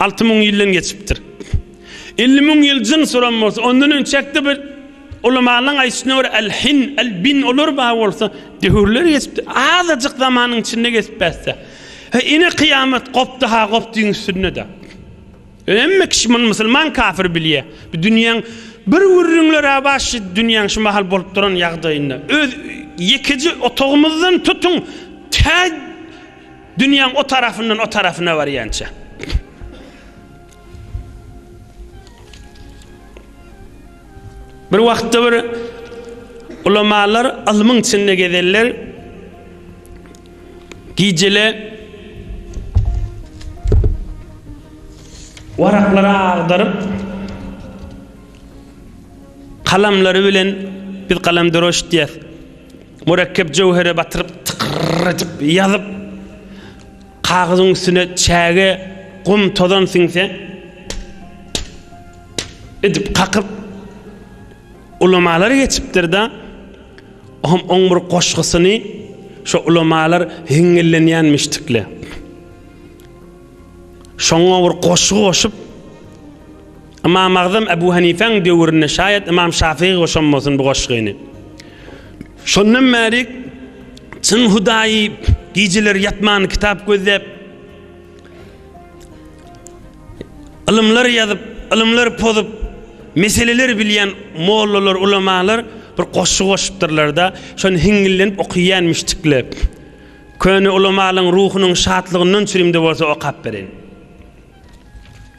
Alty müň ýyldan geçipdir. Elli müň ýyl jyn suran bolsa, ondan öň çäkde bir ulamalaryň aýdyşyna görä, al-hin, al-bin olar bar bolsa, döwürler geçipdir. Azajyk zamanyň içinde geçip bärse. He, ine kyýamat gopdy-ha gopdyň üstünde-de. Ýöne hemme kişi muny musulman kafir bilýär. Bu dünýäň bir gürrüňler-ä bar şu dünýäň şu mahal bolup duran ýagdaýynda. Öz ýekeje otagymyzdan tutuň tä Dünýäň o tarapyndan o tarapyna barýança. Bir wagtda bir ulamalar ylmyň içinde gezeller. Gijele waraklary agdaryp kalamlary bilen biz kalam döreşdiýär. Mürekkep jöwhere batyryp tykyrr edip ýazyp, kagyzyň üstüne çäge gum tozan siňse, pip-pip-pip edip kakyp, ulamalar geçipdir-de, oňam oň bir goşgusyny şo ulamalar hiňňillenýän müşdükle. Şoňa bir goşgy goşup. Ymamagzam Ebu Hanifäň döwründe şaýat Ymam Şafygy goşammasyn bu goşgyny. Şondan bäri çyn hudaýy gijeleri ýatman kitap gözläp ylymlar ýazyp, ylymlar pozup, meseleler bilýän mollalar, ulamalar bir goşgy goşupdyrlar-da, şony hiňňillenip okyýan müşdikler. Köne ulamalyň ruhunyň şatlygyndan çürimde bolsa okap bereýin.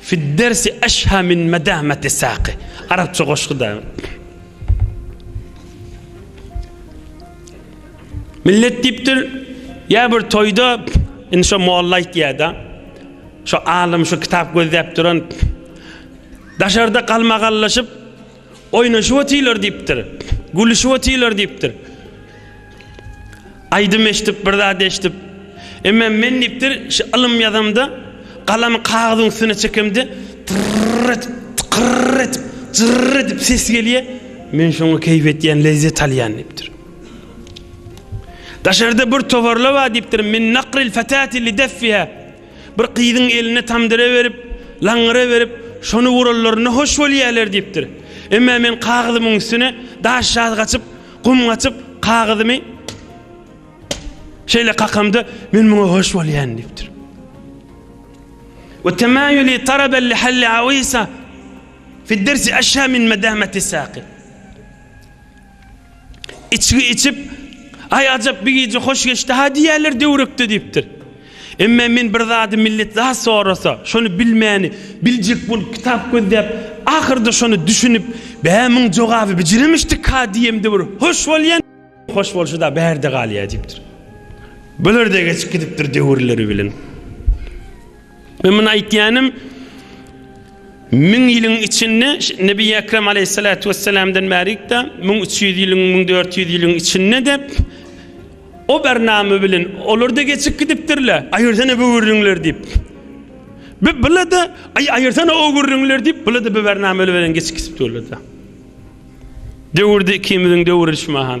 Fi dersi eşha min medameti saqi. Arapça goşgy da. Millet diýipdir, ýa bir toýda indi şo molla aýtýar-da. Şo alym şu kitap gözläp duran daşarda galmagallaşyp Oýnaşyp otyrlar diýipdir. Gülüşip otyrlar diýipdir. Aýdym eşidip, bir zat eşidip. Emma men diýipdir, şu ylym ýazamda, galamy kagyzyň üstüne çekemde, tyrr edip, tykyrr edip, jyrr edip ses gelýär. Men şoňa keýp etýän, lezzet alýan diýipdir. Daşarda bir toparla bar diýipdir, min nakril fatati li deffiha. Bir gyzyň eline tamdyra berip, laňňyra berip, şony uranlarynda hoş bolýarlar diýipdir. Emma men kagyzymyň üstüne daş ýazgaçyp, gum gaçyp, kagyzymy şeýle kakamda, men muňa hoş bolýan diýipdir. Ve temayuli tarabel lihalli avisa fid dersi aşa min medameti saqi. Içgi içip, Aý ajap bir gije hoş geçdi-ha diýýärler döwrekde diýipdir. Emme men bir zady millet zat sorasa, şony bilmäni, biljek bolup kitap gözläp, ahyrda şony düşünip, Bä muň jogaby bijiremişdik-ha diýemde bir hoş bolýan. Hoş bolşy-da bärde galýa diýipdir. Bular-da geçip gidipdir döwürleri bilen. Men muny aýtýanym, müň ýylyň içinde Nebi Ekrem aleyhissalatu vesselamdan bärik-de 1300 ýylyň, 1400 ýylyň içinde de o bernama bilen olar-da geçip gidipdirler. Aýyrsana bu gürrüňleri diýip. Bu bular-da aýyrsana o gürrüňleri diýip, bular-da bu bernama bilen geçip gidipdirler-de. Döwürde ikimiziň döwrüşmaham.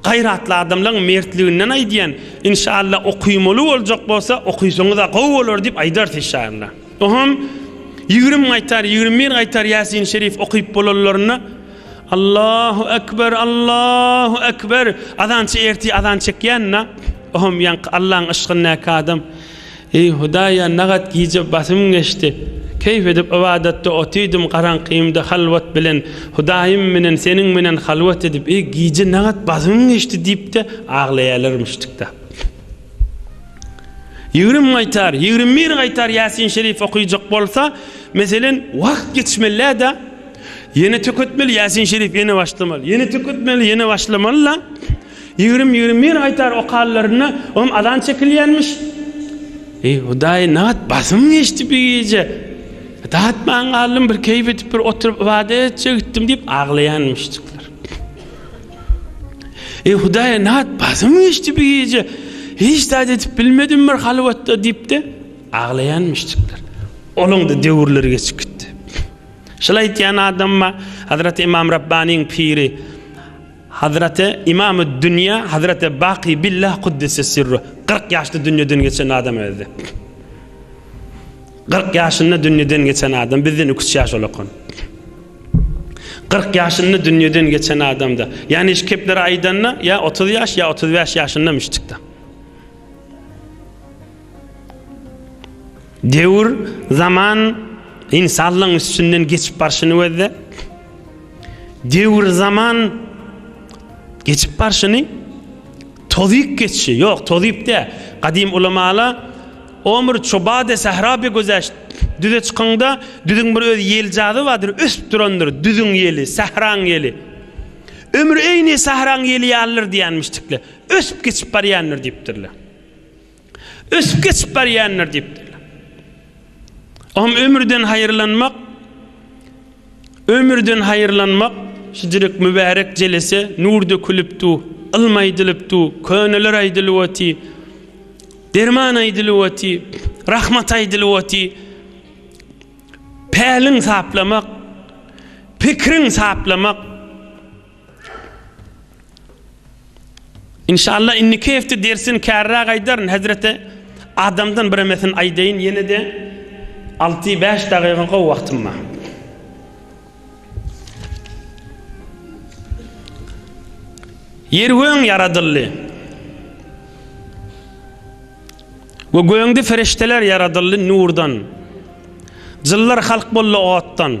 Gaýratly adamlaň mertliginden aýdýan inşalla okymaly boljak bolsa okysaňyza gowy bolar diýip aýdars inşalla. Ohem ýigrimi gaýtar ýigrimi bir gaýtar ýasin şerif okyp bolanlarynda Allahu ekber Allahu ekber azançy ertir azan çekýänna ohem ýaňky Allaň yşkyndaky adam Eý Hudaýa nagat gije basym geçdi. Keýp edip ybadatda otydym garaňkymda halwat bilen Hudaýym menen seniň menen halwat edip eý gije nagat basym geçdi diýipde aglaýalarmyş tiktap. Ýigrim gaýtar ýigrim bir gaýtar ýasin şerif okyjak bolsa meselen wagt ýetişmelläda ýene töketmeli ýasin şerif ýene başlamaly ýene töketmeli ýene başlamalyla. Ýigrimi, ýigrimi bir aýtar okallaryna oňam azan çekilýänmiş. Eý, Hudaý, nagt basym geçdi bi gije. Datman galdym, bir keýp edip bir oturyp ybadat etjek gitdim diýip aglaýanmyşjyklar. Eý, Hudaý, nagt basym geçdi bi gije. Hiç zat edip bilmedim bir halwatda diýip-de aglaýanmyşjyklar. Olaň-da döwürleri geçip gitdi. Şol aýtýan adamma Hazreti Ymam Rabbanyň piri, Hazraty Imamü'd Dünya Hazraty Baky Billah Kuddise Sirruh kyrk ýaşda dünýeden geçen adam özdi. Kyrk ýaşynda dünýeden geçen adam bizden iki üç ýaş ulakan. Kyrk ýaşynda dünýeden geçen adamda. Ýani şu kepleri aýdanda ýa otuz ýaş ýa otuz bäş ýaşyndamyşdyk-da. Döwür, zaman ynsanlygyň üstünden geçip barşyny gözle. Döwür, zaman geçip barşyny tozyp geçşi, ýok, tozyp däl. Gadym ulamala Omr çobade sahra be güzeşt, düze çykyňda, düzüň bir öz ýeljazy bardyr, ösüp durandyr, düzüň ýeli, sahraň ýeli. Ömür eýni sahraň ýeli ýalydyr diýenmişdikler. Ösüp geçip barýandyr diýipdirler. ösüp geçip barýandyr diýipdirler. O hem ömürden haýyrlanmak, ömürden haýyrlanmak, şujuruk mübärek jelese nur dökülip du, ylm aýdylyp du, köneler aýdylyp oty, derman aýdylyp oty, rahmat aýdylyp oty, päliň saplamak, pikiriň saplamak, Inşallah inniki hepde dersini kärräk aýdaryn hezreti adamdan biremesini aýdaýyn ýenede alty bäş dagyga gowy wagtym bar. Ýer göň ýaradyldy. We göňde ferişdeler ýaradyldy nurdan. Jynlar halk boldy otdan.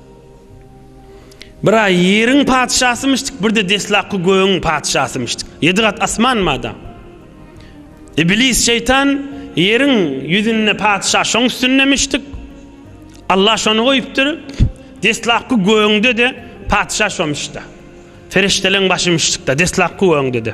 Bir-ä ýeriň patyşasymyşdyk, bir-de deslapky gögüň patyşasymyşdyk. Ýedi gat asman bada. Iblis şeýtan ýeriň ýüzünde patyşa şoň üstündemişdik. Alla şony goýupdyr. Deslapky gögüňde-de patyşa şomyş-da. Perişdeleriň başymyşdyk-da, deslapky gögüňde-de.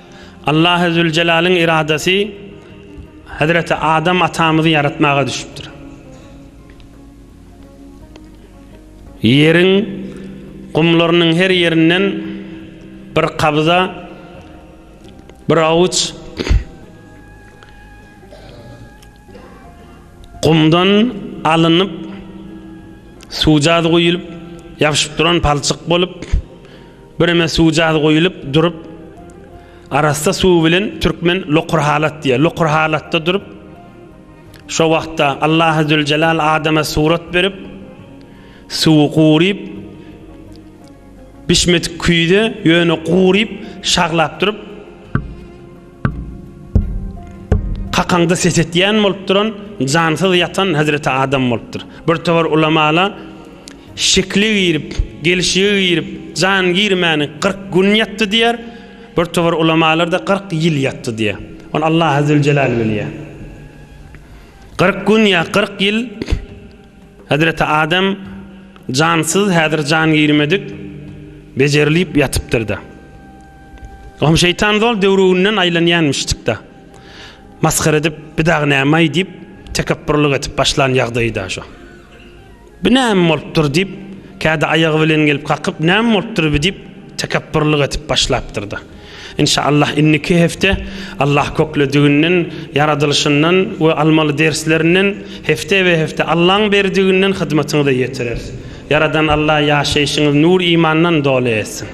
Allahezülcelalyň yradasy Hezreti Adam atamyzy ýaratmaga düşüpdir. Ýeriň gumlarynyň her ýerinden bir kabza, bir awuç gumdan alynıp, suwjaz guýulyp, ýapyşyp duran palçyk bolup, Bireme suwjaz guýulyp durup, arassa suw bilen türkmen lokur halat diýýär. Lokur halatda durup, şo wagtda Allahy züljelal adama surat berip, suwy guryp, bişmedik küýze, ýöne guryp, şaglap durup, Kakaňda ses etýän bolup duran, jansyz ýatan Hezreti Adam bolupdyr. Bir towar ulamala şekli girip, gelşigi girip, jan girmäni kyrk gün ýatdy diýer, bir towar ulamalarda kyrk ýyl ýatdy diýer. Ony Allah Azzewjelal bilýär. Kyrk gün ýa kyrk ýyl Hezreti Adam jansyz, häzir jan girmedik, bejerilip ýatypdyr-da. Oňa şeýtan zol döwrüginden aýlanýanmyşdykda. Masgara edip, bir dagy nämaý diýip, tekepburlyk edip başlan ýagdaýy-da şo. Bu näme bolupdyr diýip, kädi aýagy bilen gelip kakyp, näme bolupdyr bu diýip, tekepburlyk edip başlapdyr-da. Inşaallah indiki hepde Allah köklediginden, ýaradylyşyndan we almaly derslerinden hepde we hepde Allaň berdiginden hyzmatyňyza ýetireris. Ýaradan Allah ýaşaýşyňyzy nur imandan doly etsin.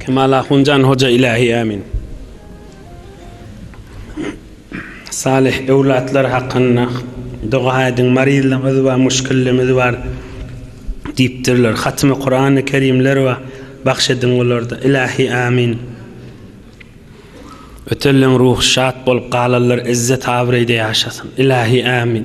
Kemal Ahunjan Hoja ilahi Amin. Salih ewlatlar hakynda doga aýdyň maryzlymyz bar muşkillimiz bar diýipdirler hatymy Kurany Kerimler bar bagş ediň olarda ilahi Amin. Ötenleň ruhy şat bolup galanlar izzet abraýda ýaşasyn ilahi Amin.